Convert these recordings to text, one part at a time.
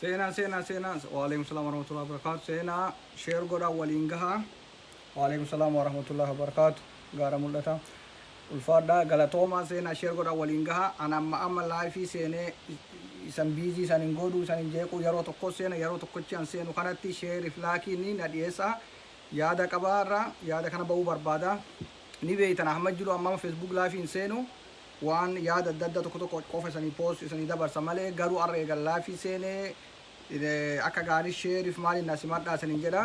Seenaa seenaa seenaa waalaikum salaam warahmatullahi wabarakatuh seenaa sheer godhaa waliin gahaa waalaikum salaam warahmatullahi wabarakatuh gaara mul'ata Ulfaadhaa galatoomaa seenaa share godhaa waliin gahaa an amma amma live seenee isan busy isan hin goodhuu isan hin jeequu yeroo tokkoo seena yeroo tokkochii an seenu kanatti share fi laakii ni na dhiyeessaa yaada qaba har'a yaada kana ba'uu barbaada ni beeytan ahmad jiru amma amma facebook live hin seenu waan yaada adda addaa tokko tokko qofa isanii post isanii dabarsa malee garuu har'a eegan live seenee akka gaarii share fi maaliin na simadhaa isaniin jedha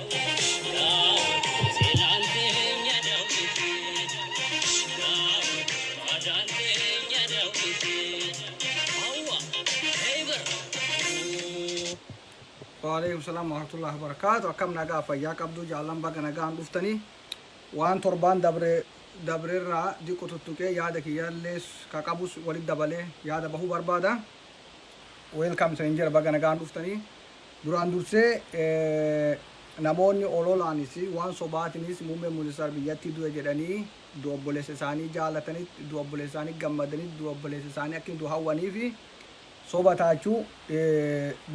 Waalaikum salam warahmatullahi wabarakatuh. Akkam nagaa fayyaa qabduu jaallan baga nagaan dhuftanii. Waan torbaan dabre dabrerraa diqqo tuttuqee yaada kiyyaallee ka qabus walitti dabalee yaada bahuu barbaada. Welcome seen jira baga nagaan dhuftanii. Duraan dursee namoonni ololaanis waan sobaatinis Muummeen Ministeera biyyattii du'e jedhanii du'a obboleessa isaanii jaalatanitti, du'a obboleessa isaanii gammadanitti, du'a obboleessa isaanii akka inni du'u hawwaniif soba taachuu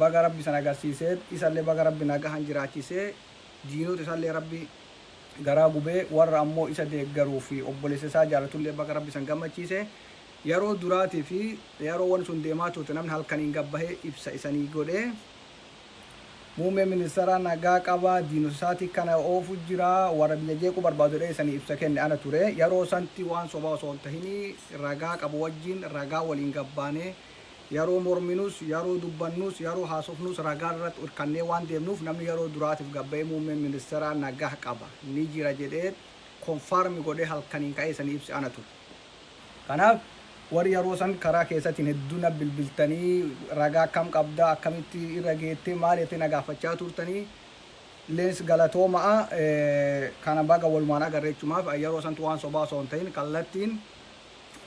baga Rabbi san agarsiisee isallee baga Rabbi nagahaan jiraachisee diinota isallee Rabbi garaa gubee warra ammoo isa deeggaruu fi obboleessa isaa jaalatullee baga Rabbi san gammachiise Yaroo duraatii fi yaroo wani sun deemaa turte namni halkaniin gad bahee ibsa isanii godhee muummeen ministeeraa nagaa qaba diinota isaatii kana oofu jira warra biyya jeequu barbaadu jedhee isanii ibsa kenne ana ture yaroo santi waan sobaa osoo hin tahinii ragaa qabu wajjiin ragaa waliin gad baanee yaroo morminus yaroo dubbannus yaroo haasofnus ragaa irratti irkannee waan deemnuuf namni yaroo duraatiif gad bahee muummeen ministeeraa nagaa qaba ni jira jedhee konfaarmi godhee halkaniin ka'ee isanii ibse ana ture. Kanaaf warri yaroo san karaa keessatiin hedduu na bilbiltanii ragaa akkam qabda akkamitti irra geette maal jettee na gaafachaa turtanii lens galatooma'a kana baga walumaan agarre jechumaaf yaroo santu waan sobaa osoo hin ta'in kallattiin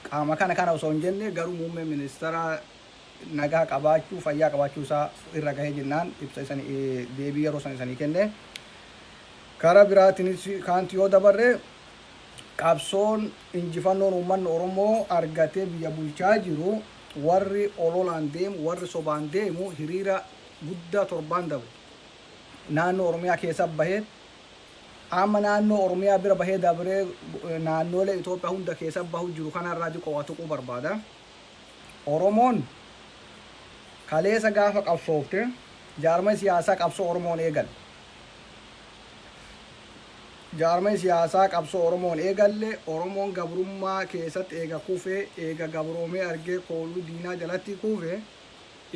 qaama kana kana osoo hin jenne garuu muummee ministeera nagaa qabaachuu fayyaa qabaachuu isaa irra gahee jennaan ibsa isan deebii yaroo san isanii kenne kara biraatinis kaanti yoo dabarre Qabsoon injifannoon uummanni Oromoo argatee biyya bulchaa jiru warri ololaan deemu, warri sobaan deemu hiriira guddaa torbaan dabre naannoo Oromiyaa keessa bahee amma naannoo Oromiyaa bira bahee dabree naannoolee Itoophiyaa hunda keessa bahu jiru kanarraa diqoo waa tuquu barbaada. Oromoon kaleessa gaafa qabsoofte jaarmay siyaasaa qabsoo Oromoon eegale. Jaarmayi siyaasaa qabsoo Oromoon eegalle, Oromoon gabrummaa keesatt eega kufe, eega gabroomee argee kooluu diinaa jalatti kufe,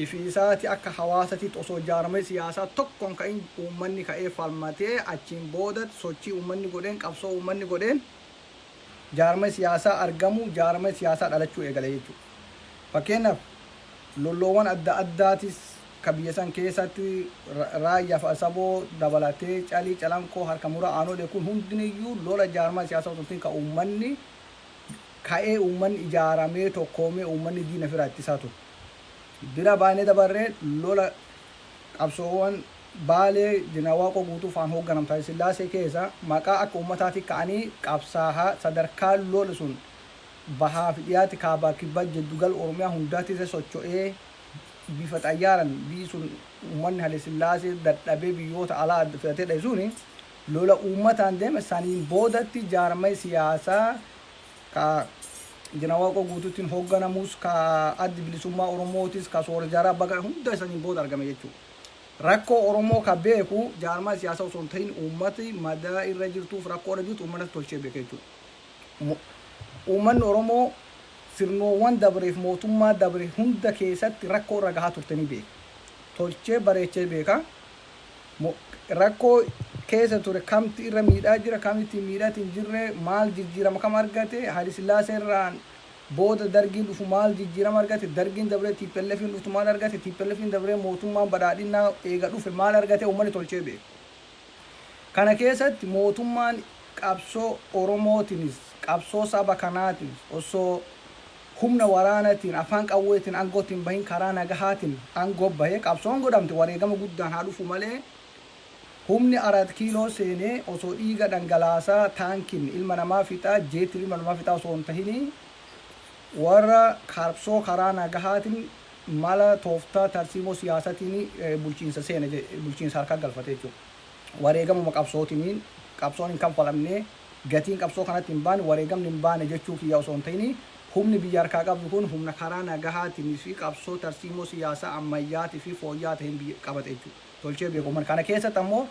ifi isaati akka hawaasatitt osoo jaarmayi siyaasaa tokko hin ka'in uummanni ka'ee falmatee achiin boodatt sochii uummanni godheen, qabsoo uummanni godheen, jaarmaya siyaasaa argamuu jaarmaya siyaasaa dhalachuu eegale jechuu dha. Fakkeenyaaf lolloowwan adda addaatis ka biyya san keessatti Raayyaa fi Asaboo dabalatee Calii, Calanqoo, Harka Muraa, Aanolee kun hundiniyyuu lola jaarmaya siyaasaa utuu hin ta'in ka uummanni ka'ee uummanni ijaaramee tokkoomee uummanni diina ifiraa ittisaa ture. Bira baanee dabarree lola Qabsoowan Baalee Jeneraal Waaqoo Guutuu faan hoogganam Taye Sillaasee keessa maqaa akka ummataati ka'anii qabsaaha sadarkaa lol sun bahaa fi dhiyaatti kaabaa kibbaa jeddu gal Oromiyaa hundaa tise socho'ee bifa xayyaaran biyyi sun ummanni Hale Sillaasee dadhabee biyyoota alaa adda filatee dhaye suni lola ummataan deeme saniin boodatti jaarmay siyaasaa ka Injina Waaqoo Guutuutiin hoogganamus, ka Addi Bilisummaa Oromootis, ka Soora Jaaraa Bagaa hunda isaniin booda argame jechuudha. Rakkoo Oromoo ka beeku jaarmaa siyaasaa osoo hin tahin uummati madaa irra jirtuuf rakkoo irra jirtu uummatatu tolchee beeka jechuudha. Uummanni Oromoo sirnoowwan dabree fi mootummaa dabre hunda keessatti rakkoo irra gahaa turte ni beeka. Tolchee bareechee beeka. mo rakkoo keessa ture kamtu irra miidhaa jira kamitu hin miidhati hin jirre maal jijjiirama kam argate Haylisillaasee irraan booda dargiin dhufu maal jijjiirama argate dargiin dabree TPLFn dhuftu maal argate TPLFn dabree mootummaan badhaadhinnaa eega dhufe maal argate uummanni tolchee beeka kana keessatti mootummaan qabsoo Oromootinis qabsoo saba kanaatinis osoo humna waraanatiin, afaan qawweetiin aangootti hin bahin karaa nagahaatiin aangoo bahee qabsoon godhamte wareegama guddaan haa dhufu malee humni Araat Kiiloo seenee osoo dhiiga dhangalaasaa taankiin ilma namaa fixaa, jeettiin ilma namaa fixaa osoo hin tahinii warra qabsoo karaa nagahaatiin mala tooftaa tarsiimoo siyaasatiin bulchiinsa seene, bulchiinsa harkaa galfate jechuudha. Wareegamuma qabsootiniin qabsoon hin kanfalamnee. Gatiin qabsoo kanatti hin baane wareegamni hin baane jechuu kiyya osoo hin ta'ini humni biyya harkaa qabdu kun humna karaa nagahaatiin fi qabsoo tarsiimoo siyaasaa ammayyaati fi fooyya'aa ta'een biyya qabate jechuu Tolchee beeka uummanni kana keessatti ammoo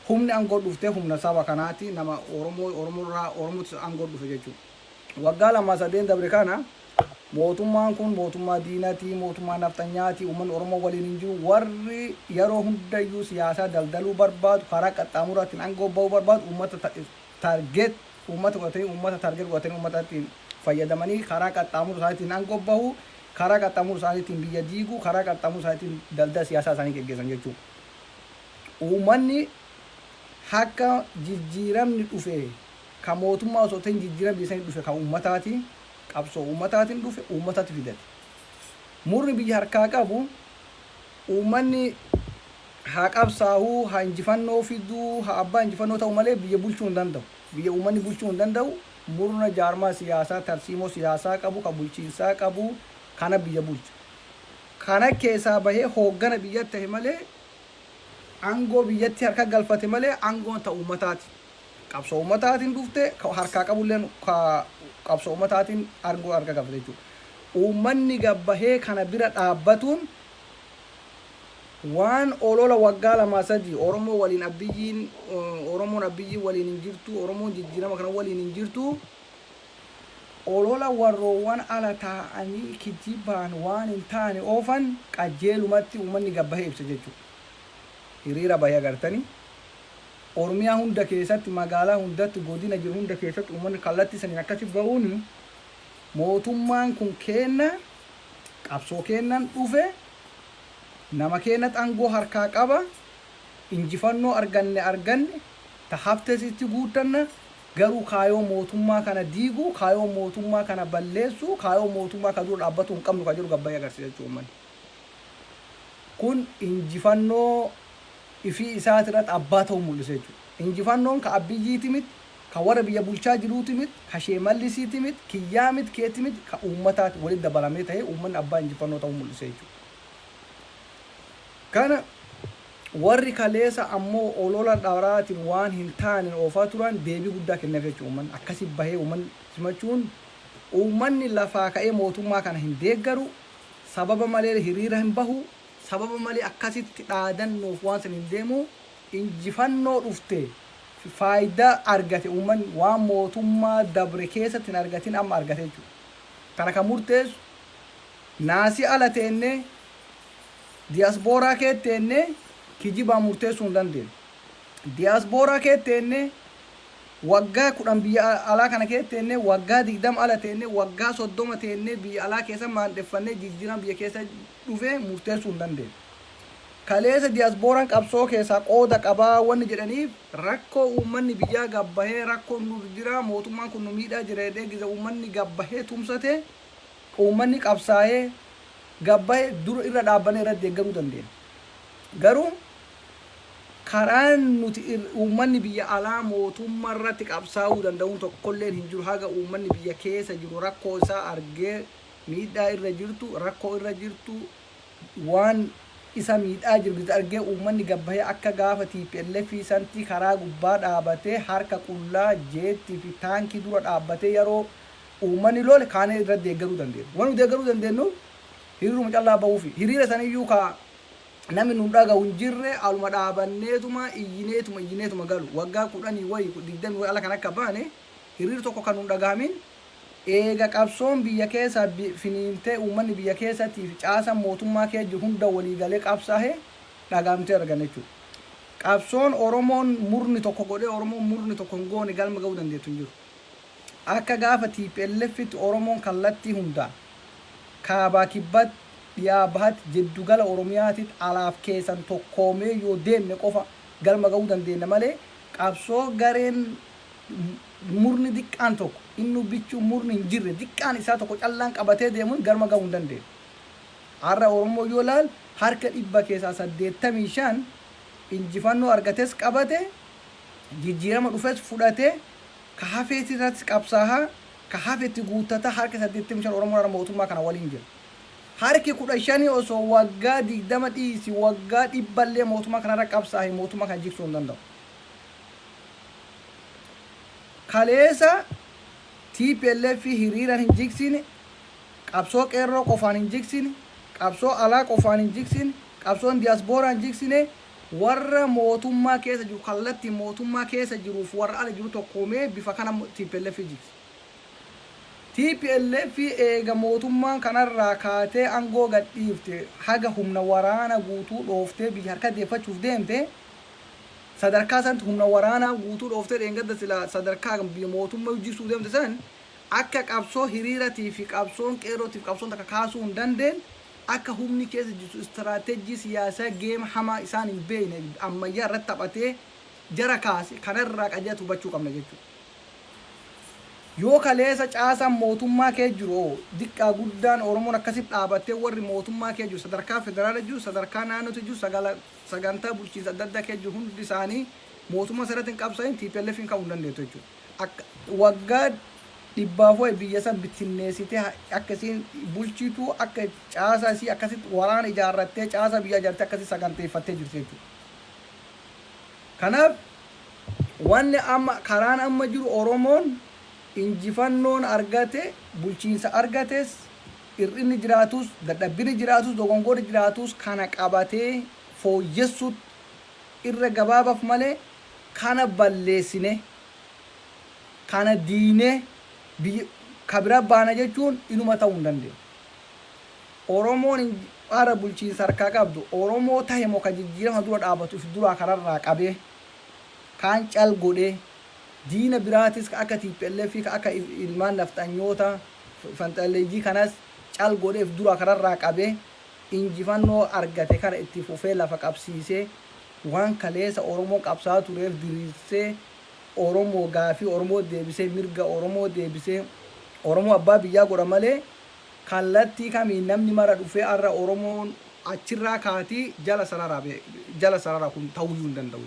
humni angoo dhufte humna saba kanaati nama Oromoo Oromoo irraa Oromootu angoo dhufe jechuu waggaa lama sadeen dabre kana Mootummaan kun mootummaa diinati, mootummaa nafxanyaati, uummanni Oromoo waliin hin jiru, warri yeroo hundayyuu siyaasaa daldaluu barbaadu, karaa qaxxaamuraatiin aangoo ba'uu barbaadu uummata target uummata godhatanii uummata target godhatanii uummata ittiin fayyadamanii karaa qaxxaamura isaaniitiin aangoo bahu, karaa qaxxaamura isaaniitiin biyya diigu, karaa qaxxaamura isaaniitiin daldala siyaasaa isaanii geggeessan jechuudha. Uummanni akka jijjiiramni dhufe kan mootummaa osoo ta'in jijjiiramni biyya sanii dhufe kan uummataati. Qabsoo uummataatiin dhufe uummatatti fidate. Murni biyya harkaa qabu uummanni haa qabsaahu, haa injifannoo fidu, haa abbaa injifannoo ta'u malee biyya bulchuu hin danda'u. Biyya uummanni bulchuu hin danda'u, murna jaarmaa siyaasaa, tarsiimoo siyaasaa qabu, ka bulchiinsaa qabu kana biyya bulcha. Kana keessaa bahee hooggana biyya tahe malee, aangoo biyyatti harka galfate malee aangoon ta uummataati. qabsoo ummataatiin dhufte, ka harkaa qabulleen ka qabsoo ummataatiin aangoo harkaa qabate jechuudha. Ummanni gad bahee kana bira dhaabbatuun waan olola waggaa lamaa sadii Oromoo waliin Abbiyyiin, Oromoon Abbiyyiin waliin hin jirtu, Oromoon jijjiirama kana waliin hin jirtu, olola warroowwan ala taa'anii kijibaan waan hin taane oofan qajjeelumatti ummanni gad bahee ibsa jechuudha. Hiriira bahee agartanii? Oromiyaa hunda keessatti, magaalaa hundatti, godina jiru hunda keessatti uummanni kallattii saniin akkasitti ba'uun mootummaan kun keenna, qabsoo keennan dhufe, nama keennatti aangoo harkaa qaba, injifannoo arganne arganne, ta haftes itti guuttanna, garuu kaayoo mootummaa kana diiguu, kaayoo mootummaa kana balleessuu, kaayoo mootummaa kana dura dhaabbatuu hin qabnu ka jedhu gabbayee agarsiisa jechuudha uummanni. Kun injifannoo ifii isaati irratti abbaa ta'uu mul'isa jechuudha. Injifannoon ka Abbiyyiiti miti, ka warra biyya bulchaa jiruuti miti, ka Sheemallisiiti miti, kiyyaa miti, keeti miti, ka uummataati walitti dabalamee ta'ee uummanni abbaa injifannoo ta'uu mul'isa jechuudha. Kana warri kaleessa ammoo olola dharaatiin waan hin taaneen oofaa turan deebii guddaa kenneef jechuudha uummanni. Akkasi bahee uummanni simachuun uummanni lafaa ka'ee mootummaa kana hin deeggaru, sababa malee hiriira hin bahu, sababa malee akkasitti dhaadannoof waan san hin deemu, injifannoo dhufte fi faayidaa argate uummanni waan mootummaa dabre keessatti hin argatin amma argate jechuudha. Kana kan murteessu naasii ala teennee diyaasbooraa keessa teennee kijibaan murteessuu hin dandeenyu. Diyaasbooraa keessa teennee Waggaa 10 biyya alaa kana keessa teennee, waggaa 20 ala teennee, waggaa 30 teennee biyya alaa keessa maandheffannee jijjiirama biyya keessa dhufe murteessuu hin dandeenyu. Kaleessa diyaaspooraan qabsoo keessaa qooda qaba wanni jedhaniif rakkoo uummanni biyyaa gad bahee rakkoon nurra jira, mootummaan kun nu miidhaa jira jedhee giza uummanni gad bahee tumsate, uummanni qabsaa'ee gad bahe dur irra dhaabbanee irratti deeggaruu dandeenya. Garuu Karaan nuti uummanni biyya alaa mootummarratti qabsaa'uu danda'uun tokkolleen hin jiru haga uummanni biyya keessa jiru rakkoo isaa argee miidhaa irra jirtu rakkoo irra jirtu waan isa miidhaa jirtu argee uummanni gad bahee akka gaafa tplf santi karaa gubbaa dhaabatee harka qullaa jeettii fi taankii dura dhaabbatee yeroo uummanni lole kaanee irra deeggaruu dandeenyu. Waan nu deeggaruu dandeenyu hiriiruma callaa bahuufi. Hiriira saniyyuu ka Namni nu dhagahu hin jirre aluma dhaabanneetuma iyyineetuma iyyineetuma galu. Waggaa kudhanii wayi digdamii wayi ala kan akka baane hiriir tokko kan nu hin dhagahamin eega qabsoon biyya keessa finiintee uummanni biyya keessatii fi caasaan mootummaa keessa jiru hunda walii galee qabsaahe dhagahamtee arganna jechuudha. Qabsoon Oromoon murni tokko godhee Oromoon murni tokko hin goone galma gahuu dandeettu hin jiru. Akka gaafa TPLFtti Oromoon kallattii hundaan, Kaabaa Kibbat, Dhiyaa Bahat, Jiddu Gala Oromiyaatit alaaf keessan tokkoomee yoo deemne qofa galma ga'uu dandeenna malee qabsoo gareen murni diqqaan tokko, innu bichuu murni hin jirre diqqaan isaa tokko callaan qabatee deemun galma ga'uu hin dandeennu. Har'a Oromoon yoo laalu harka dhibba keessaa 85 injifannoo argates qabate, jijjiirama dhufes fudhatee Ka hafeeti irratti qabsaaha, ka hafe itti guuttata, harki 85 Oromoon har'a mootummaa kana waliin jira. Harki 15 osoo waggaa 20 dhiisi waggaa dhibba illee mootummaa kana irra qabsaahe mootummaa kana jigsuu hin danda'u. Kaleessa tplf hiriiraan hin jigsine, qabsoo qeerroo qofaan hin jigsine, qabsoo alaa qofaan hin jigsine, qabsoon diyaasbooraan hin jigsine, Warra mootummaa keessa jiru kallattiin mootummaa keessa jiruu fi warra ala jiru tokkoomee bifa kana tplf jigse. Tplf eega mootummaan kanarraa kaatee angoo gadhiifte haga humna waraana guutuu dhooftee biyya harka deeffachuuf deemte sadarkaa santti humna waraanaa guutuu dhooftee dheengadda silaa sadarkaa biyya mootummayu jigsuu deemte san akka qabsoo hiriiratii fi qabsoon qeerrootii fi qabsoon takka kaasuu hin dandeen Akka humni keessa jirtu istiraateejjii siyaasaa game hamaa isaan hin beekne ammayyaa irratti taphatee jara kaase kana irraa qajeelatti hubachuu qabna jechuu dha. Yoo kaleessa caasaan mootummaa keessa jiru hoo diqqaa guddaan Oromoon akkasitti dhaabattee warri mootummaa keessa jiru sadarkaa federaala jiru sadarkaa naannootti jiru sagala sagantaa bulchiinsa adda addaa keessa jiru hundi isaanii mootummaa sana irratti hin qabsaa'in TPLFn ka'uu hin dandeettu jechuu dha. akka waggaa dhibbaaf wayi biyya san bittinneessitee ha- akka isiin bulchitu akka caasaa isii akkasitti waraana ijaarrattee caasaa biyyaa ijaarrattee akkasitti saganteeffattee jirti jechuudha. Kanaaf wanni amma karaan amma jiru Oromoon injifannoon argate bulchiinsa argates hir'inni jiraatus dadhabbini jiraatus dogongorri jiraatus kana qabatee fooyyessuutti irra gabaabaaf malee kana balleessine, kana diiynee biyya ka bira baana jechuun inuma ta'uu hin dandeenye. Oromoon har'a bulchiinsa harkaa qabdu Oromoo tahe moo ka jijjiirama dura dhaabatu if duraa kararraa qabee, kaan cal godhee, diina biraatis ka akka tplf, ka akka ilmaan nafxanyoota fanxalleeyyii kanas cal godhee if duraa kararraa qabee injifannoo argate kana itti fufee lafa qabsiisee, Waan kaleesa Oromoon qabsaa'aa tureef diriirsee Oromoo gaafii Oromoo deebisee mirga Oromoo deebisee Oromoo abbaa biyyaa godha malee kallattii kamiin namni mara dhufee arra Oromoon achirraa kaatii jala sarara jala sarara kun ta'uyyuu hin danda'u.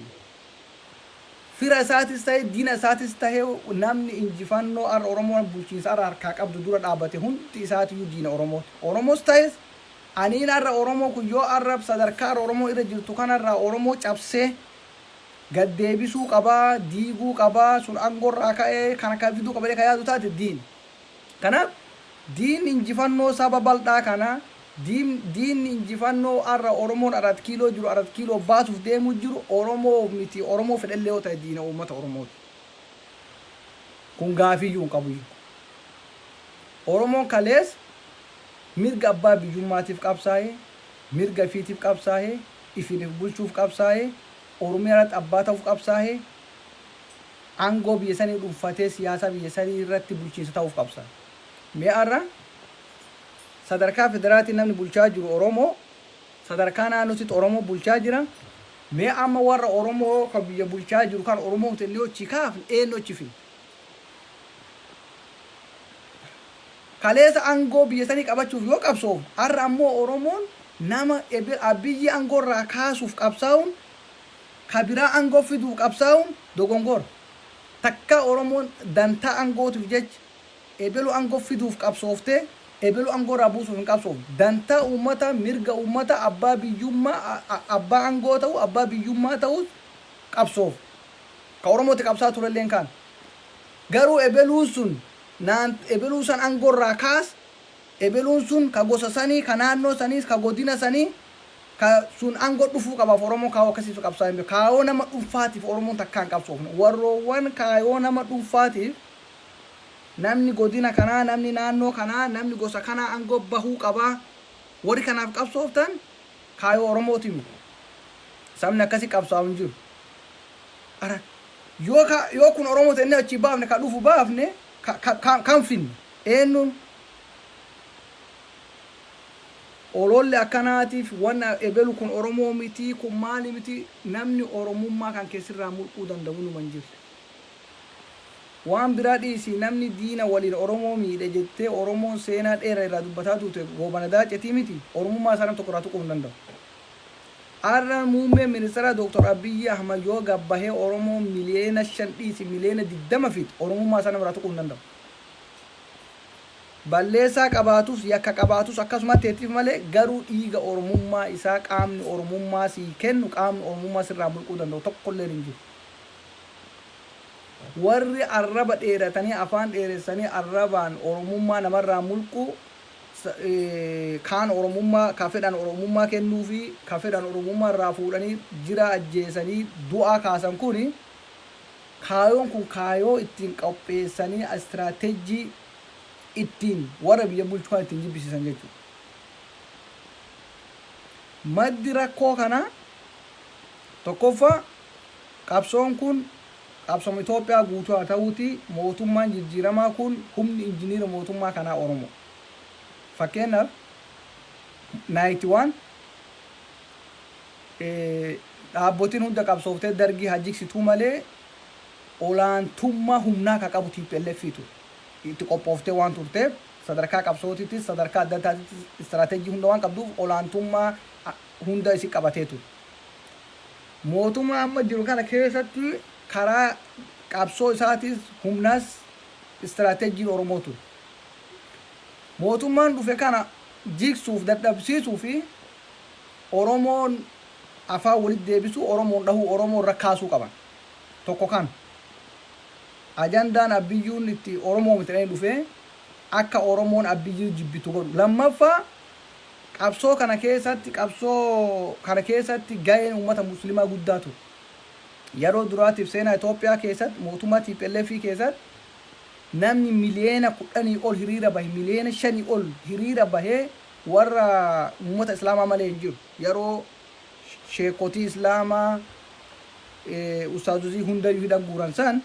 Fira isaatis ta'e diina isaatis ta'e namni injifannoo arra Oromoon bulchiinsa arra harkaa qabdu dura dhaabate hundi isaatiyyuu diina Oromooti. Oromoos ta'es Aniin arra Oromoo kun yoo arra sadarkaa arra Oromoo irra jirtu kanarraa Oromoo cabsee gad deebisuu qaba, diiguu qaba, sun angorraa ka'ee kan akkan fiduu qaba jedhee kan yaadu taate diin. Kanaaf diin injifannoo saba baldhaa kana, diin diin injifannoo arra Oromoon Arat Kiiloo jiru Arat Kiiloo baasuuf deemuu jiru Oromoo miti, Oromoo fedhellee yoo ta'e diina uummata Oromooti. Kun gaafiiyyuu hin qabu hiiku. Oromoon kaleessa Mirga abbaa biyyummaatiif qabsaa'ee, mirga ifiitiif qabsaa'ee, ifiin if bulchuuf qabsaa'ee, Oromiyaa irratti abbaa ta'uuf qabsaa'ee, aangoo biyya sanii dhunfatee siyaasaa biyya sanii irratti bulchiinsa ta'uuf qabsaa'e. Mee har'a sadarkaa federaatiin namni bulchaa jiru Oromoo, sadarkaa naannootitti Oromoo bulchaa jira. Mee amma warra Oromoo ka biyya bulchaa jiru kan Oromoo jennee yoo achi kaafne eenyu achi fidna? Kaleesa angoo biyya sanii qabachuuf yoo qabsoofnu har'a ammoo Oromoon nama Abiyyi angoo irraa kaasuuf qabsaa'uun ka biraa angoo fiduuf qabsaa'uun dogongora. Takkaa Oromoon dantaa angootiif jecha ebelu angoo fiduuf qabsooftee ebelu angoo irraa buusuuf hin qabsoofne. Dantaa uummataa, mirga uummataa, abbaa biyyummaa, abbaa angoo ta'uu, abbaa biyyummaa ta'uuf qabsoofne. Ka Oromoo itti qabsaa'aa turelleen kana. Garuu ebeluun sun. Naant ebeluu san angoo irraa kaas, ebeluun sun ka gosa sanii, ka naannoo saniis, ka godina sanii, ka sun ango dhufuu qabaaf Oromoon kaayoo akkasii fi qabsaa'ee hin beeku. Kaayoo nama dhunfaatiif Oromoon takkaa hin qabsoofne. Warroowwan kaayoo nama dhunfaatiif namni godina kanaa, namni naannoo kanaa, namni gosa kanaa angoo bahuu qabaa, warri kanaaf qabsooftan kaayoo Oromootiif miti. Sabni akkasii qabsaa'u hin jiru. Ara Yoo ka, yoo kun Oromoo tennee achii baafne, ka dhufu baafne, ka, ka, ka, kan finnu eennuun? Oloolli akkanaatiif wanna ebelu kun Oromoo mitii, kun maali mitii, namni Oromummaa kan kee sirraa mulquu danda'u numa hin jirre. Waan biraa dhiisii namni diina waliin Oromoo miidhe jettee Oromoon seenaa dheera irraa dubbataa tuute Goobana Daacetii mitii, Oromummaa isaa nam tokko irraa tuquu hin danda'u. Har'a Muummeen Ministaraa Dr. Abiyyi Ahmad yoo gad bahee Oromoo miliyeena 5 dhiisi miliyeena 20 fixu Oromummaa isaa namarraa tuquu hin danda'u. Balleessaa qabaatus yakka qabaatus akkasumatti haa ittifu malee garuu dhiiga Oromummaa isaa qaamni Oromummaa sii kennu qaamni Oromummaa sirraa mulquu danda'u tokkolleen hin jiru. Warri arraba dheeratanii afaan dheeressanii arrabaan Oromummaa namarraa mulquu kaan Oromummaa ka fedhan Oromummaa kennuufii ka fedhan Oromummaa irraa fuudhanii jira ajjeesanii du'aa kaasan kuni kaayoon kun kaayoo ittiin qopheessanii istiraatejjii ittiin warra biyya bulchu kana ittiin jibbisiisan jechuudha. Maddi rakkoo kanaa tokkoffaa qabsoon kun Qabsoom Itoophiyaa guutuu haa ta'uutii mootummaan jijjiiramaa kun humni injiniira mootummaa kanaa Oromoo. Fakkeenyaaf, Night One dhaabbotiin hunda qabsooftee Dargii haa jiksituu malee olaantummaa humnaa ka qabu tplf ture. Itti qophooftee waan turteef sadarkaa qabsootittis sadarkaa adda addaatittis istiraatejii hunda waan qabduuf olaantummaa hunda isii qabatee ture. Mootummaa amma jiru kana keessatti karaa qabsoo isaatiis humnas istiraateejiin Oromoo ture. Mootummaan dhufe kana jigsuuf, dadhabsiisuu fi Oromoon afaan walitti deebisuu, Oromoon dhahuu, Oromoo irra kaasuu qaban. Tokko kana. Ajandaan Abbiyyuun itti Oromoo miti jedhanii dhufee akka Oromoon Abbiyyuu jibbitu godhu. Lammaffaa Qabsoo kana keessatti qabsoo kana keessatti gaheen ummata muslimaa guddaa ture. Yaroo duraatiif seenaa Itoophiyaa keessatti mootummaa tplf keessatti namni miliyeena kudhanii ol hiriira bahe miliyeena shanii ol hiriira bahe warra ummata islaamaa malee hin jiru. Yaroo sheekotii islaamaa ustaazozii hundayyuu hidhan guuran san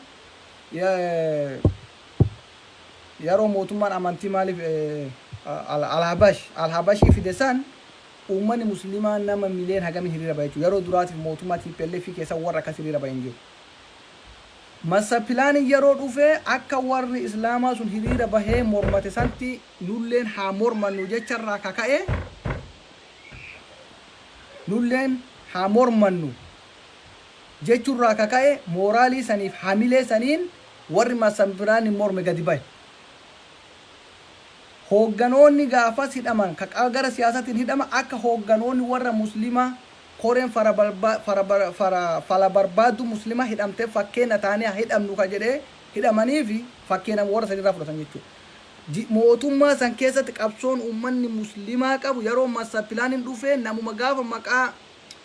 Yaroo mootummaan amantii maaliif Al-Habash, Al-Habashii fide san uummanni Muslimaa nama million hagamii hiriira bahe jechuudha. Yaroo duraatiif mootummaa tplf keessa warri akkas hiriira bahe hin jiru. Master Plan yaroo dhufe akka warri Islaamaa sun hiriira bahee mormate santi nulleen haa mormannu jecha irraa ka ka'e nulleen haa mormannu jechu irraa ka ka'e mooraalii saniif hamilee saniin Warri Masanviraaniin morme gadi bahe. Hoogganoonni gaafas hidhaman ka qaba gara siyaasatiin hidhama akka hoogganoonni warra Muslimaa koreen falabarbaaddu Muslimaa hidhamte fakkeenna taanee haa hidhamnu ka jedhe hidhamaniifi fakkeenama warra saniirraa fudhatan jechuudha. Mootummaa san keessatti qabsoon ummanni Muslimaa qabu yaroo Master Plan dhufee namuma gaafa maqaa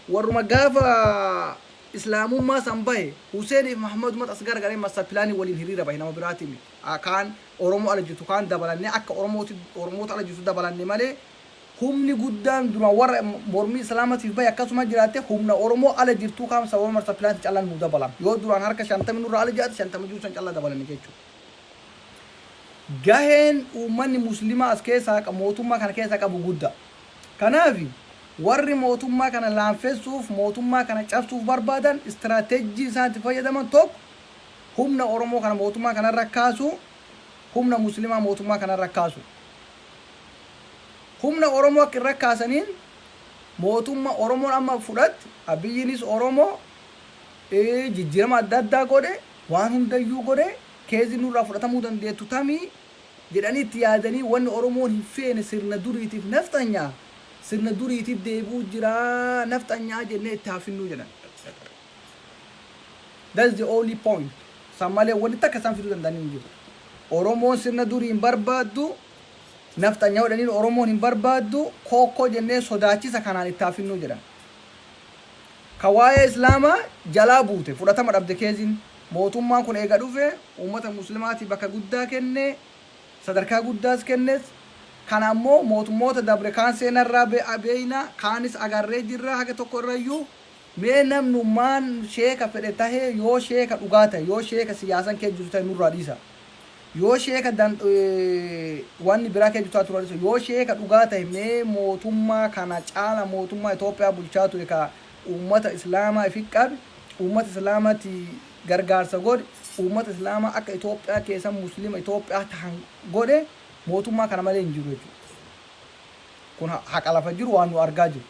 warruma gaafa Islaamummaa san bahe, Huseeniif Mahmadumatu as garagalee master pilaanii waliin hiriira bahe nama biraatii miti. Kaan Oromoo ala jirtu kaan dabalannee akka Oromootti Oromoota ala jirtu dabalanne malee humni guddaan duraan warra mormii Islaamatiif bahe akkasuma jiraatte humna Oromoo ala jirtuu kaan sababa master pilaanti callaan nuu dabalan. Yoo duraan harka shantami nurraa ala jiraate shantama jiru san callaa dabalanne jechu. Gaheen uummanni Muslimaa as keessaa mootummaa kana keessaa qabu gudda. Kanaaf, warri mootummaa kana laamfessuuf, mootummaa kana cabsuuf barbaadan istiraatejjii isaan itti fayyadaman tokko humna Oromoo kana mootummaa kana irra kaasuu, humna Muslimaa mootummaa kana irra kaasuu. Humna Oromoo akka irra kaasaniin mootumma Oromoon amma fudhatte, Abiyyiinis Oromoo jijjiirama adda addaa godhe, waan hundayyuu godhe, keezi nurraa fudhatamuu dandeettu tami? jedhanii itti yaadanii wanni Oromoon hin feene sirna duriitiif nafxanyaa, sirna duriitiif deebi'uu jira nafxanyaa jennee itti haa finnuu jedhan. That's the only point. San malee wanni takka isaan fiduu danda'an hin jiru. Oromoon sirna durii hin barbaaddu, nafxanyaa jedhaniin Oromoon hin barbaaddu, kookkoo jennee sodaachisa kanaan itti haa finnuu jedhan. ka waa'ee Islaamaa jalaa buute, fudhatama dhabde keeziin. Mootummaan kun eega dhufe ummata Muslimaatiif bakka guddaa kenne, sadarkaa guddaas kennes. Kana ammoo mootummoota dabre kaan seenarraa beeyna, kaanis agarree jirra haga tokko irrayyuu. Mee namnumaan sheeka fedhe tahee yoo sheeka dhugaa tahe, yoo sheeka siyaasan keessa jiru tahe nurraa dhiisaa. Yoo sheeka dan wanni biraa kee jutaa turan sun yoo sheeka dhugaa tahe mee mootummaa kana caala mootummaa Ethiopia bulchaa ture ka uummata islaamaa ifi qabe uummata islaamati gargaarsa godhe uummata islaamaa akka Ethiopia keessa muslima Ethiopia tahan godhe mootummaa kana malee hin jiru jechuudha. Kun haqa lafa jiru waan nu argaa jiru.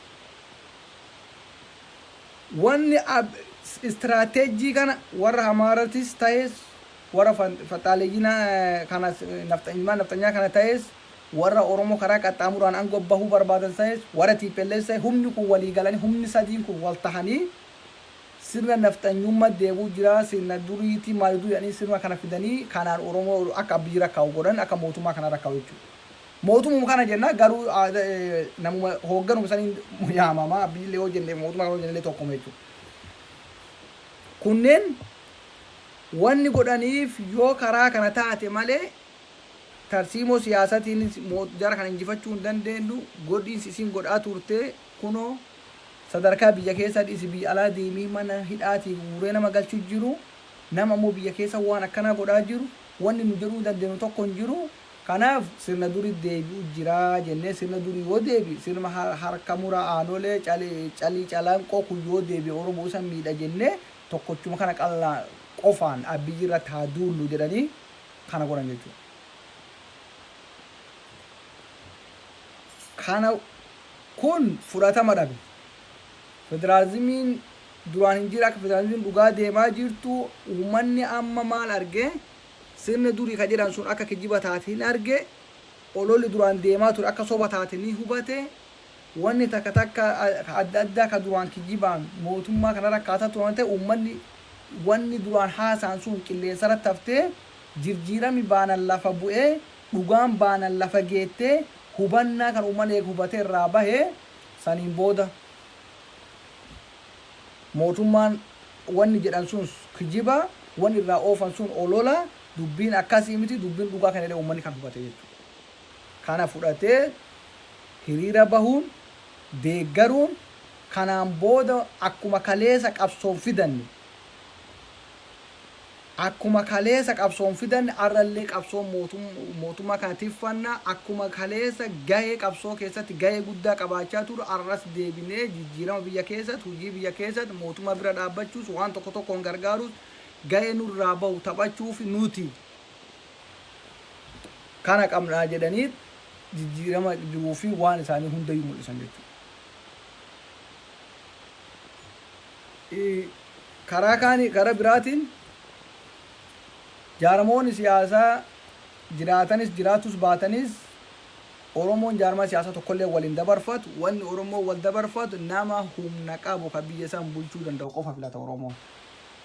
Wanni ab- istiraateejii kana warra Amaaratis tahes Warra faxxaaleyyi kanas ilmaan nafxanyaa kana tahes warra Oromoo karaa qaxxaamuraan ango bahuu barbaadan tahes warra tplf tahe humni kun walii galanii humni sadiin kun wal tahanii sirna nafxanyumma deebi'u jira sirna duriiti maayuduu jedhanii sirna kana fidanii kanaan Oromoo akka Abiy rakkaa'u godhan akka mootummaa kana rakkaa'u jechuudha. Mootumuma kana jenna garuu namuma hoogganuma saniin yaamama Abiyillee yoo jenne mootummaa kana yoo jennellee tokkuma jechuudha. Kunneen Wanni godhaniif yoo karaa kana taate malee tarsiimoo siyaasatiin jara kana injifachuu hin dandeennu, godhiinsi isiin godhaa turte kunoo sadarkaa biyya keessaa dhiisi biyya alaa deemii mana hidhaatii guuree nama galchu jiru, nama ammoo biyya keessa waan akkanaa godhaa jiru wanni nu jedhuu dandeennu tokko hin jiru, kanaaf sirna duriitti deebi'uu jira jennee sirna durii yoo deebi'e sirma harka muraa aanolee, calii calanqoo kun yoo deebi'e Oromoo isa miidha jennee tokkochuma kana qalla qofaan Abiy irratti haa duullu jedhanii kana godhan jechuudha. Kana kun fudhatama dhabe. Federaalizimiin duraan hin jira akka federaalizimiin dhugaa deemaa jirtu uummanni amma maal arge sirna durii ka jedhan sun akka kijiba taate hin arge ololli duraan deemaa ture akka soba taate ni hubate Wanni takka takka ka adda addaa ka duraan kijibaan mootummaa kanarra kaasaa turan ta'e uummanni wanni duraan haasa'an sun qilleensarratti haftee jirjiirami baanan lafa bu'ee dhugaan baanan lafa geettee hubannaa kan uummanni eega hubatee irraa bahe saniin booda mootummaan wanni jedhan suns kijiba wanni irraa oofan sun olola dubbiin akkasii miti dubbiin dhugaa kan jedhee uummanni kan hubate jechuudha. kana fudhatee hiriira bahuun deeggaruun kanaan booda akkuma kaleesa qabsoon fidanne akkuma kaleesa qabsoon fidanne arrallee qabsoon mootummaa kana tiffanna akkuma kaleesa gahee qabsoo keessatti gahee guddaa qabaachaa ture arras deebinee jijjiirama biyya keessatti hojii biyya keessatti mootummaa bira dhaabbachuus waan tokko tokkoon gargaaruus gahee nurraa bahu taphachuuf nuti kana qabnaa jedhanii jijjiirama jiruu fi waan isaanii hundayyuu mul'isan jechuudha. Karaa kaanii karaa biraatiin jaarmoonni siyaasaa jiraatanis jiraatus baatanis Oromoon jaarmaa siyaasaa tokkollee wal hin dabarfatu. Wanni Oromoo wal dabarfatu nama humna qabu kan biyya isaan bulchuu danda'u qofa filata Oromoon.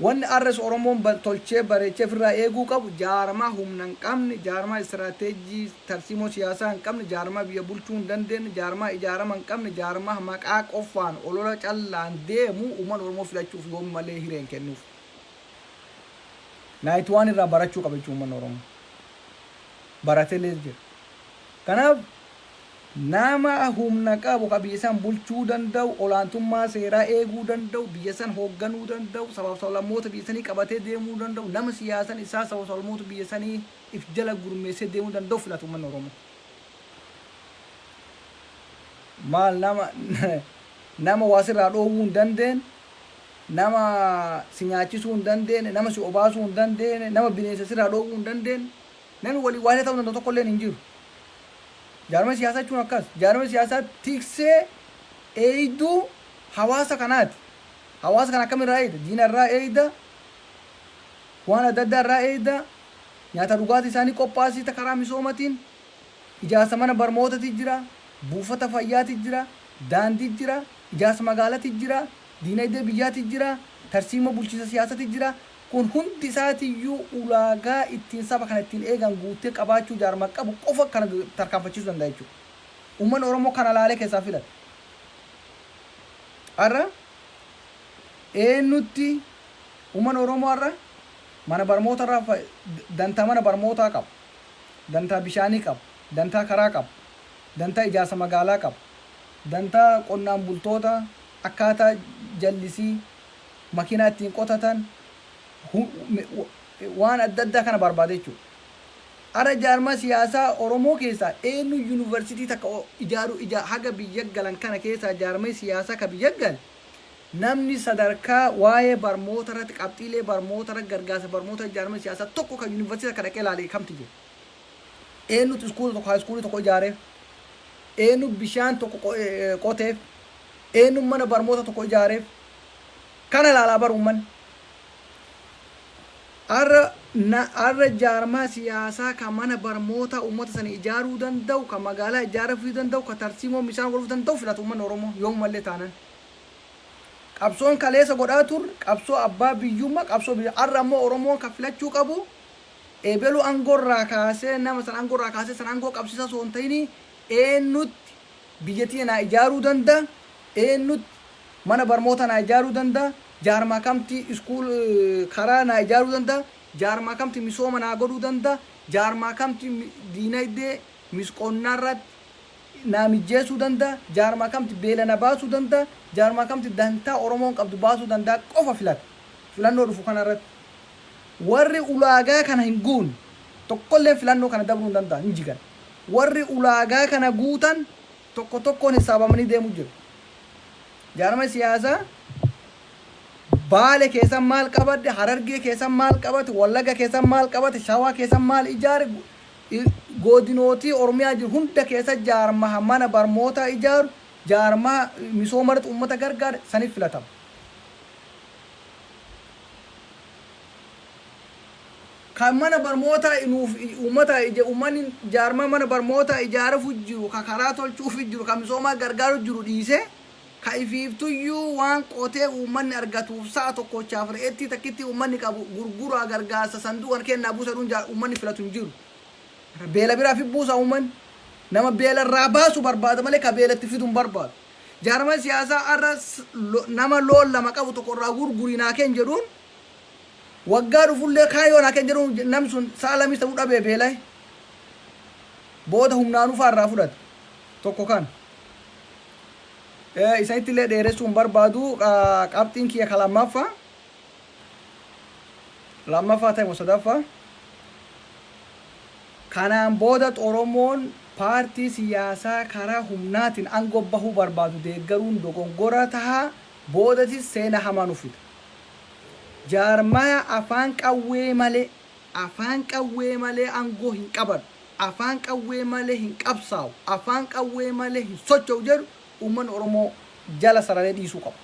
Wanni arras Oromoon tolchee bareechee firraa eeguu qabu jaarmaa humna hin qabne, jaarmaa istiraateejii tarsiimoo siyaasaa hin qabne, jaarmaa biyya bulchuu hin dandeenne, jaarmaa ijaarama hin qabne, jaarmaa maqaa qoffaan olola callaan deemu uummanni Oromoo filachuuf yoom malee hiree hin kennuuf. Night one irraa barachuu qaba jechuudha uummanni Oromoo. Baratelees jira. Kanaaf Nama humna qabu, ka biyya san bulchuu danda'u, olaantummaa seeraa eeguu danda'u, biyya san hoogganuu danda'u, sabaaf sablammoota biyya sanii qabatee deemuu danda'u, nama siyaasan isaa sabaaf sablammoota biyya sanii if jala gurmeessee deemuu danda'u filata ummanni Oromoo. Maal nama nama waa sirraa dhoowwuu hin dandeenne, nama si nyaachisuu hin dandeenne, nama si obaasuu hin dandeenne, nama bineensa sirraa dhoowwuu hin dandeenne, nami waliin waa isa ta'uu danda'u tokkolleen hin jiru. Jaarmaya siyaasaa jechuun akkas. Jaarmaya siyaasaa tiksee, eeyduu hawaasa kanaati. Hawaasa kana akkamirraa eeyda? Diina irraa eeyda, waan adda addaa irraa eeyda, nyaata dhugaatii isaa ni qophaasita karaa misoomatiin, ijaarsa mana barmootati jira, buufata fayyaati jira, daandii jira, ijaarsa magaalati jira, diinaydee biyyaati jira, tarsiimoo bulchiinsa siyaasati jira, Kun hundi isaatiyyuu ulaagaa ittiin saba kana ittiin eegan guuttee qabaachuu jaarmaa qabu qofa kana tarkaanfachiisuu danda'a jechuudha. Uummanni Oromoo kana laalee keessaa filata. Har'a eenyutti uummanni Oromoo har'a mana barmoota irraa fa- d- dantaa mana barmootaa qaba. Dantaa bishaanii qaba. Dantaa karaa qaba. Dantaa ijaarsa magaalaa qaba. Dantaa qonnaan bultoota akkaataa jallisii makiinaa ittiin qotatan, waan adda addaa kana barbaada jechuudha. Har'a jaarmaa siyaasaa Oromoo keessaa eenyu Yuunivarsiitii takka ijaaruu ijaa haga biyya galan kana keessaa jaarmay siyaasaa ka biyya gale namni sadarkaa waa'ee barmoota irratti qabxiilee barmoota irratti gargaarsa barmootaa jaarmay siyaasaa tokko ka Yuunivarsiitii takka dhaqee laale kamtu jira? Eenyutu iskuula tokko, haayiskuulii tokko ijaareef? Eenyu bishaan tokko qoteef? Eenyu mana barmoota tokko ijaareef? Kana ilaalaa bar uummanni. Har'a na har'a jaarmaa siyaasaa ka mana barmootaa uummata sana ijaaruu danda'u, ka magaalaa ijaaruu danda'u, ka tarsiimoo misaan godhuu danda'u filata uummanni Oromoo yoomumallee taanan. Qabsoon kaleessa godhaa turre qabsoo abbaa biyyummaa qabsoo biyya har'a ammoo Oromoon kan filachuu qabu Ebelu angoo irraa kaasee nama san angoo irraa kaasee san angoo qabsiisa osoo hin ta'ini eennutti biyya tiyya naa ijaaruu danda, eennutti mana barmoota naa ijaaruu danda, jaarmaa kamti school karaa naa ijaaruu danda, jaarmaa kamti misooma naa godhuu danda, jaarmaa kamti diinaydee mis qonnaa irratti naa mijjeessuu danda, jaarmaa kamti beela na baasuu danda, jaarmaa kamti dantaa Oromoon qabdu baasuu dandaa qofa filata. Filannoo dhufu kana irratti Warri ulaagaa kana hin guunne tokkolleen filannoo kana dabruu hin danda'an, hin jigan. Warri ulaagaa kana guutan tokko tokkoon hissaabamanii deemu jiru. Jaarmaya siyaasaa Baale keessan maal qabadde, Harargee keessan maal qabate, Wallaga keessan maal qabate, Shawaa keessan maal ijaare, godinootii Oromiyaa jiru hunda keessa jaarmaha mana barmootaa ijaaru, jaarmaha misooma irratti uummata gargaare sanif filatama. kan mana barmootaa nuuf uummataa ija uummanni jaarmaa mana barmootaa ijaarafu jiru ka karaa tolchuufi jiru ka misoomaa gargaaru jiru dhiisee ka ifiiftuyyuu waan qotee uummanni argatuuf sa'a tokkochaaf re'ettii takkittii uummanni qabu gurguraa gargaarsa sanduuqan kennaa buusa jedhuun jaa- uummanni filatu hin jiru. Beela biraaf hin buusa uummanni. Nama beelarraa baasu barbaada malee ka beelatti fidu hin barbaadu. Jaarmaya siyaasaa har'a nama loon lama qabu tokko irraa gurguri naa kenn jedhuun waggaa dhufullee kaan yoo naa kenn jedhuun namni sun sa'a lamis ta'uu dhabee beela'e booda humnaan ufaa irraa fudhata tokko kana. Isanittillee dheeressuu hin barbaadu qabxiin kiyya ka lammaffaa. Lammaffaa ta'e moo sadaffaa? Kanaan booda Xoromoon paartii siyaasaa karaa humnaatiin ango bahuu barbaadu deeggaruun dogongora taha, boodatis seena hamaa nuf fida. Jaarmaya afaan qawwee malee, afaan qawwee malee ango hin qabadhu, afaan qawwee malee hin qabsaawu, afaan qawwee malee hin socho'u jedhu Uummanni Oromoo jala sararee dhiisuu qaba.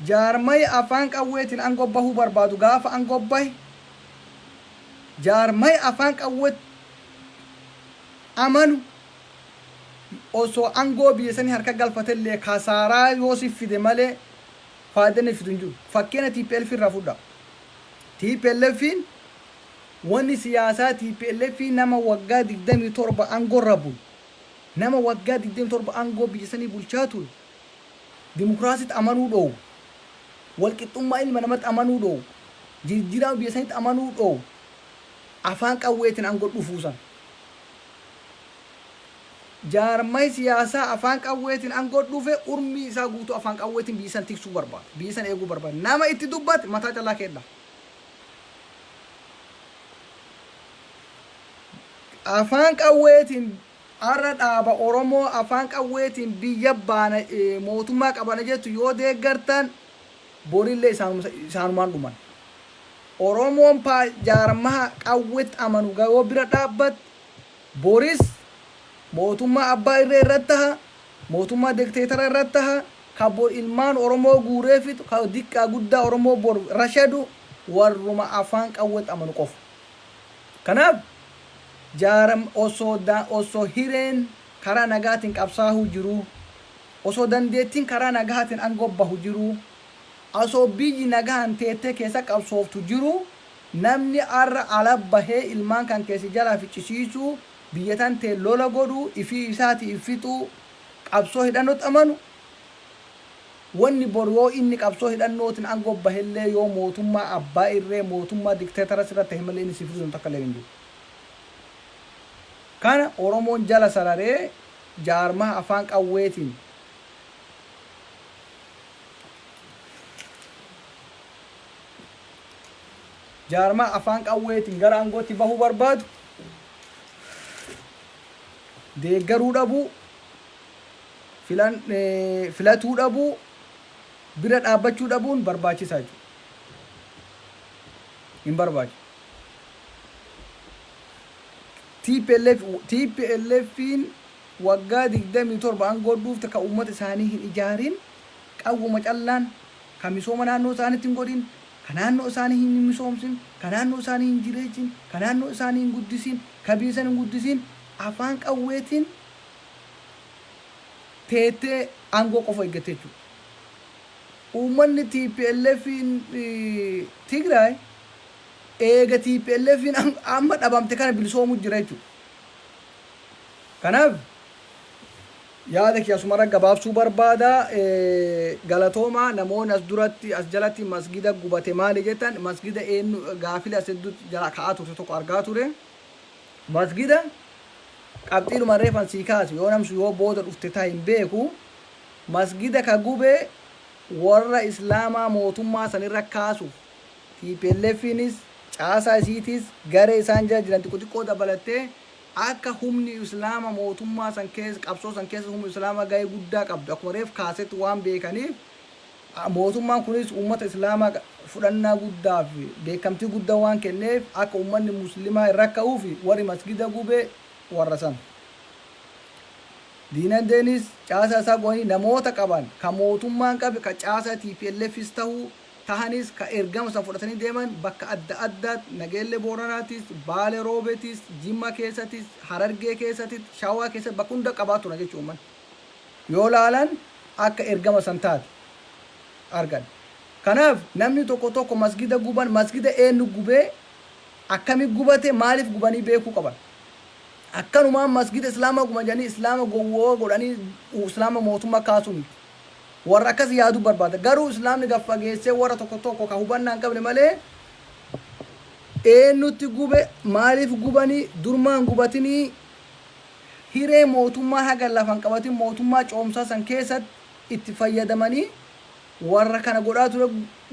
Jaarmaya afaan qawweetiin aangoo bahuu barbaadu gaafa aangoo bahe jaarmaya afaan qawweetti amanu osoo aangoo biyya sanii harka galfate illee kasaaraa yoo siif fide malee faayida inni fidu hin jiru. Fakkeenya tplf irraa fudhaa. TPLFiin wanni siyaasaa tplf nama waggaa 27 aangoo irra bulu Nama waggaa 27 aangoo biyya sanii bulchaa ture, dimokraasitti amanuu dhoowwu, walqixxummaa ilma namatti amanuu dhoowwu, jirjjiraama biyya sanitti amanuu dhoowwu, afaan qawweetiin aangoo dhufuu san. Jaarmayi siyaasaa afaan qawweetiin aangoo dhufe urmii isaa guutuu afaan qawweetiin biyya san tiksuu barbaada, biyya san eeguu barbaada. Nama itti dubbate mataa callaa keet dhaha. Afaan qawweetiin Har'a dhaaba Oromoo afaan qawweetiin biyya baana, mootummaa qabana jettu yoo deeggartan borillee isaanumaan dhuman. Oromoon jaarmaha qawwetti amanu yoo bira dhaabbatte boris mootummaa abbaa irree irratti taha, mootummaa dekteetara irratti taha, ka bor ilmaan Oromoo guuree fixu, ka diqqaa guddaa Oromoo bor rashadu warruma afaan qawwetti amanu qofa. Kanaaf jaaram osoo da osoo hireen karaa nagaatiin qabsaahuu jiruu, osoo dandeettiin karaa nagaatiin angoo bahu jiruu, asoo biyyi nagahaan teettee keessa qabsooftu jiruu namni arra ala bahee ilmaan kankee si jalaa ficcisiisuu, biyya tanteen lola godhuu, ifii isaatii if fixuu qabsoo hidhannootti amanu, Wanni bor yoo inni qabsoo hidhannootin angoo bahellee yoo mootummaa abbaa irree mootummaa dictatorous irra tahe malee inni si fudhisan takkalleen hin jiru. Kana Oromoon jala sararee jaarmaha afaan qawweetin jaarmaha afaan qawweetin gara angootti bahuu barbaadu deeggaruu dhabuu, filan, filatuu dhabuu, bira dhaabbachuu dhabuun barbaachisaa jechuudha. Hin barbaachisu. TPLF, TPLFiin waggaa 27 aangoo dhuufte kan uummata isaanii hin ijaarin, qawwuma callaan kan misooma naannoo isaaniitti hin godhin, kan naannoo isaanii hin misoomsin, kan naannoo isaanii hin jireessin, kan naannoo isaanii hin guddisin, kan biyya isaanii hin guddisin, afaan qawweetiin teettee aangoo qofa eeggatte jechuudha. Uummanni TPLFn Tigraay eega TPLFn amma dhabamte kana bilisoomu jira jechuudha. Kanaaf yaada kiyya asumarra gabaabsuu barbaada. Galatooma namoonni as duratti as jalatti masgida gubate maali jettan masgida eenyu gaafila as hedduutti jala ka'aa turte tokko argaa ture. Masgida qabxiidhuma reefan sii kaasu yoo namsu yoo booda dhufte ta hin beeku masgida ka gube warra islaamaa mootummaa san irra kaasuf TPLFinis caasaa isiitis garee isaan jala jiran xiqqo xiqqoo dabalattee akka humni islaama mootummaa san keessa qabsoo san keessa humni islaama gahee guddaa qabdu akkuma reef kaasetti waan beekaniif a Mootummaan kunis ummata Islaamaa fudhannaa guddaa fi beekkamtii guddaa waan kenneef akka ummanni Muslimaa hin rakka'uufi warri masgida gube warra san. Diinagdeenis caasaa isaa gubanii namoota qaban ka mootummaan qabe ka caasaa TPLFis tahu tahanis ka ergama san fudhatanii deeman bakka adda addaatti Nageellee Booranaatis, Baale Roobetis, Jimma keessatis, Harargee keessatit, Shawaa keessatti bakka hunda qabaa turan jechuudha ummanni. yoo laalan akka ergama san taate argan. Kanaaf namni tokko tokko masgida guban masgida eennu gubee akkami gubate maalif gubanii beekuu qaban. Akkanumaan masgida islaama guban jedhanii islaama gowwooa godhanii islaama mootumma kaasuu miti. Warra akkas yaadu barbaada. Garuu islaamni gad fageessee warra tokko tokko ka hubannaa hin qabne malee eennutti gube maalif gubanii durmaa hin gubatinii hiree mootummaa haga lafa hin qabatin mootummaa coomsaa san keessat itti fayyadamanii warra kana godhaa ture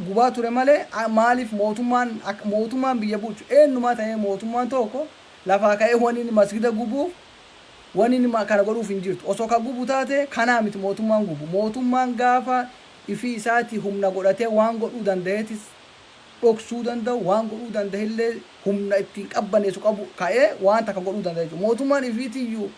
gubaa ture malee maaliif mootummaan mootummaan biyya bulchu eennumaa ta'ee mootummaan tokko lafaa ka'ee waniin masgida gubuuf waniin kana godhuuf hin jirtu osoo ka gubu taate kanaa miti mootummaan gubu mootummaan gaafa ifii isaatii humna godhatee waan godhuu danda'eetis dhoksuu danda'u, waan godhuu danda'ellee humna ittiin qabbaneessu qabu ka'ee waan takka godhuu danda'a jechuudha. Mootummaan ifiitiyyuu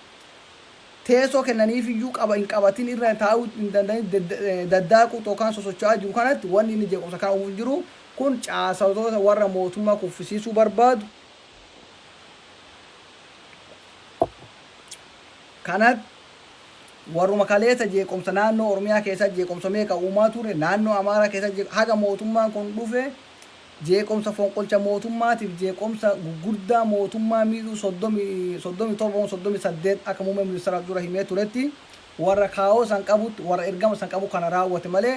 teessoo kennaniifiyyuu qaba hin qabatin irra taa'uu hin danda'in daddaaquu yookaan sosocho'aa jiru kanatti wanni inni jeequmsa kana uumuuf jiru kun caasatoota warra mootummaa kuffisiisuu barbaadu kanatti Warruma kaleessa jeequmsa naannoo Oromiyaa keessatti jeequmsa meeqa uumaa ture, naannoo Amaaraa keessatti jeequmsa, haga mootummaan kun dhufe jeequmsa fonqolcha mootummaatiif jeequmsa gurguddaa mootummaa miidhuu 30, 37 moo 38 akka muummeen ministeeraaf dura himee turetti warra kaayoo san qabutti, warra ergama san qabu kana raawwate malee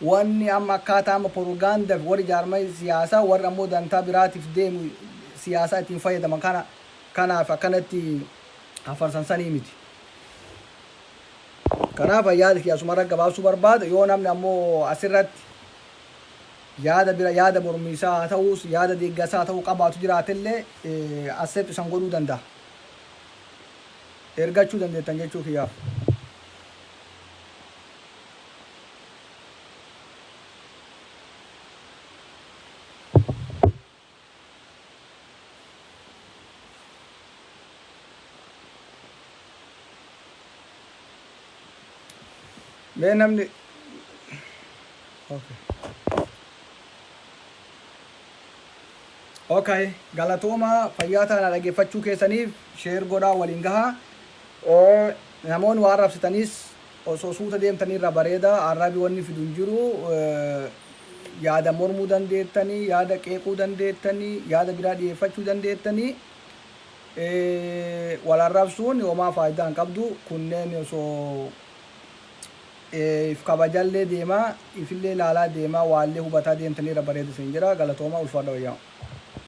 wanni amma akkaataa amma porogaandafi warri jaarmaya siyaasaa warri ammoo dantaa biraatiif deemu siyaasaa ittiin fayyadaman kana kanaaf akkanatti hafarsan sanii miti. Kanaaf an yaada kiyya asumarra gabaabsuu barbaada. Yoo namni ammoo asirratti yaada bira yaada mormiisaa haa ta'uus yaada deeggarsaa haa ta'uu qabaatu jiraatellee accept isan godhuu danda'a. Ergachuu dandeettan jechuu kiyyaaf. Mee namni okay. Okay, galatooma fayyaa taana dhaggeeffachuu keessaniif sheer godhaa waliin gahaa. Oo, Namoonni waan rabsitanis Osoo suuta deemtanii irra bareeda. Arrabi wanni fidu hin jiru. Yaada mormuu dandeettani, yaada qeequu dandeettani, yaada biraa dhiyeeffachuu dandeettani. Wal arrabsuun homaa faayidaa hin qabdu. Kunneen osoo if kabajallee deemaa, ifillee ilaalaa deemaa, waallee hubataa deemtanii irra bareeda isin jedha. Galatoomaa ulfaadha wayyaa.